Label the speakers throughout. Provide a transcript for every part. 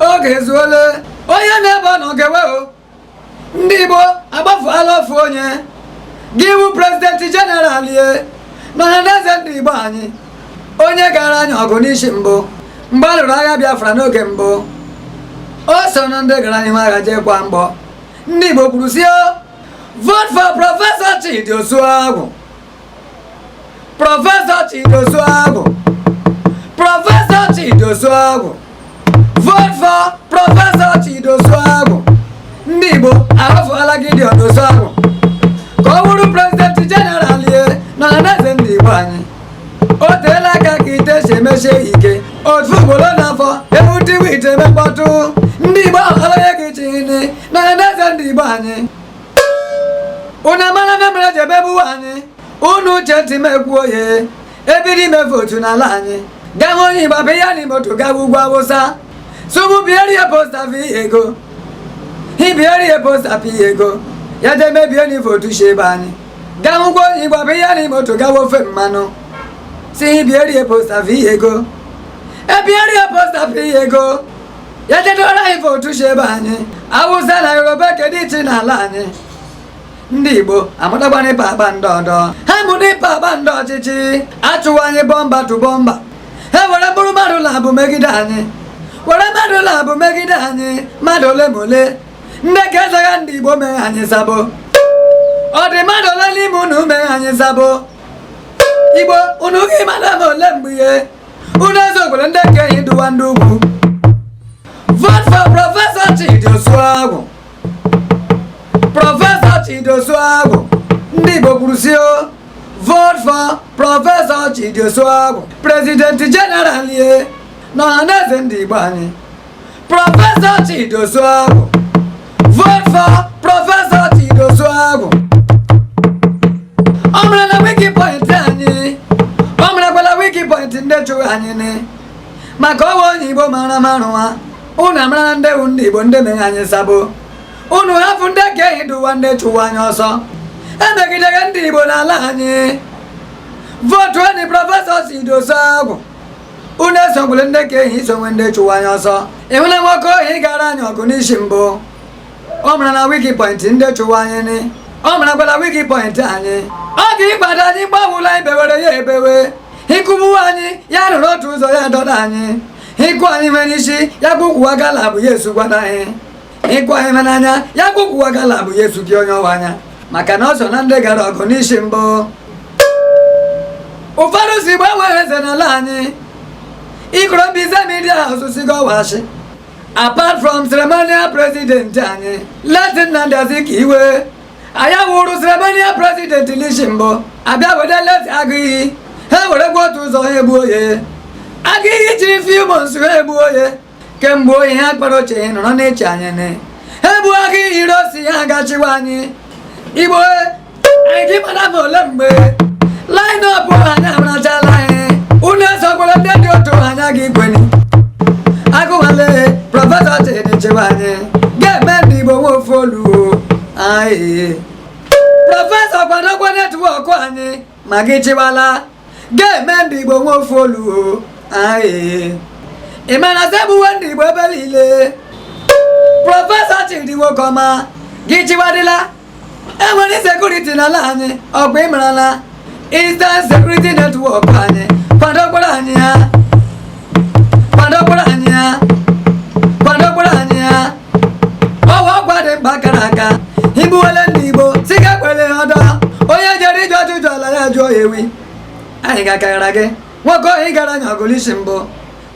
Speaker 1: oge ezuole onye n'ebe ọ nọ gewe o ndị igbo akpọfụla ofu onye ga-abụ prezidenti jeneral ye na ọhaneze ndị igbo anyị onye gara anyị ọgụ n'isi mbụ mgbe a lụrụ agha biafra n'oge mbụ o so na ndị gara n'ihu agha jee kwaa mgbọ ndị igbo kwuru sị o vote for prọfesọ chidi osuagwu prọfesọ chidi osuagwu prọfesọ chidi osuagwu vote for prọfesọ chidi osuagwu ndị igbo ahọfụla chidi osuagwu ka ọ bụrụ prezidenti jeneral ye na ọhaneze ndị igbo anyị o teela aka ka ite si emesie ya ike otu ugboro n'afọ ewutiwe ite mekpọtụ ndị igbo ahụla onye ga-achị nị na ọhaneze ndị igbo anyị unu amarala ihe mere e ji emegbuwe anyị unu chee ntị m ekwuo ihe e bido ime votu n'ala anyị gawa onye igba bụ ihe n'ime moto gawa ugwu awụsa sụmụ bierie posta vi ego hi bierie posta pi ego ya je mebie ni votu shi ebe anyị gawa ugwu onye igba bụ ihe n'ime moto gawa ofe mmanụ sị hi bierie posta vi ego ebierie posta pi ego ya je dọrọ anyị votu si ebe anyị awụsa na yoruba kedu iche n'ala anyị ndị igbo amụtagbana ịpa akpa ndị ọdọ ha mụrụ ịpa akpa ndị ọchịchị achụwa anyị bọmba tu bọmba ha were mkpụrụ mmadụ naabụ megide anyị were mmadụ naabụ megide anyị mmadụ ole ma ole ndị ka ezaga ndị igbo mee anyị sabo ọ dị mmadụ ole n'ime unu mee anyị sabo igbo unu gị mmadụ ma ole mgbe ihe unu esogwule ndị ke hi dụwa ndị ugwu vote for prọfesọ Chidi Osuagwu prọfesọ Chidi Osuagwu ndị Igbo kwuru sị o vote for prọfesọ Chidi Osuagwu prezidenti jeneral ye na ọhaneze ndị Igbo anyị Professor Chidi Osuagwu. Vote for Professor Chidi Osuagwu. Ọ marala weak point anyị. Ọ marakwala weak point ndị chụgha anyị ni. Maka ọ wụ onye Igbo mara mara nwa. Unu amarala ndị wu ndị Igbo ndị mere anyị sabo. Unu hapụ ndị ke hi dụwa ndị chụwa anyị ọsọ. Emegidegha ndị Igbo n'ala anyị. Votu nị Professor Chidi Osuagwu. unu esogwule ndị ke hi sowe ndị chụwa anyị ọsọ ịhụla nwoke ahụ gara anyị ọgụ n'isi mbụ ọ marala weak point ndị chụwa anyị ni ọ marakwala weak point anyị ọ ga ịgbado anyị mgbe ọ wụla e bewere ya ebewe hi kụgbuwa anyị ya rụrụ otu ụzọ ya dọda anyị hi kụọ anyị ihe n'isi ya bụ kwuwa gala bụ ya esugwada anyị ịgụ anyị ma n'anya ya gwụkwụwa gala bụ ya efugi onye ọwa anya maka na o so na ndị gara ọgụ n'isi mbụ ụfọdụ sị igbo enwe eze n'ala anyị ikoro mbaise media house sị gọwachi apart from ceremonial president anyị late nnamdi azikiwe ọ ya wụrụ ceremonial president n'isi mbụ a bịa wete late agụiyi ha were gwa otu ụzọ ha egbuo ya agụiyi chịrị few months ha egbuo ya kemgbe oyi ha kpara oche ya nọrọ na-eche anya na ha egbu agụiyi ironsi ha ga-achịwa anyị igbo anyị gị mara ma ole mgbe line up anyị amarachala anyị unu esokwala ndị dị otu anyị agaghị ekweni agụwale prọfesọ chidi chịwa anyị ga-eme ndị igbo nwe ofu olu anyị prọfesọ kwadokwa network anyị ma gị chịwala ga-eme ndị igbo nwe ofu olu anyị ị ma na sị egbuwe ndị igbo ebe niile prọfesọ chidi nwokọma gị chịwadịla e nwere security n'ala anyị ọgwụ ịmarala Eastern Security Network anyị kwadokwara anyị ya ọwa ọgwa dị mkpa kara aka igbuwele ndị igbo sị ga kwele ọdọ onye jere ije ọjụjụ ala ya jụọ ya ewi anyị ga-akagara gị nwoke ohi gara anya ọgụ l'isi mbụ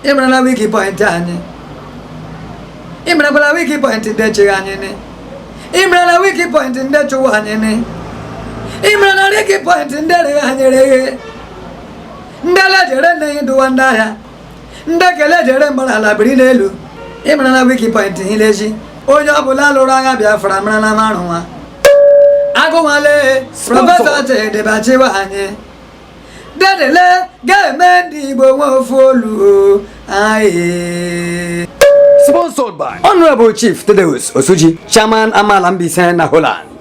Speaker 1: ịmara na weak point anyị ịmarakwala weak point ndị echeghị anyị ni ịmara na weak point ndị chụwa anyị ni ịmara na weak point ndị rịghị anyị rịghị ndị ala jere nne ya dụwa ndị ahịa ndị ekele jere mgbe na ala biri n'elu ịmara na weak point hileji onye ọbụla lụrụ agha biafra mara na marụ nwa agụnwale prọfesọ chidi bịa chịwa anyị dedele ga-eme ndị igbo nwe ofu olu anyị sponsored by honorable chief thaddeus osuji chairman amala mbaise na holland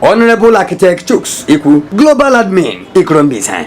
Speaker 1: Honorable Architect Chuks Ikwu, Global Admin, Ikorombisa.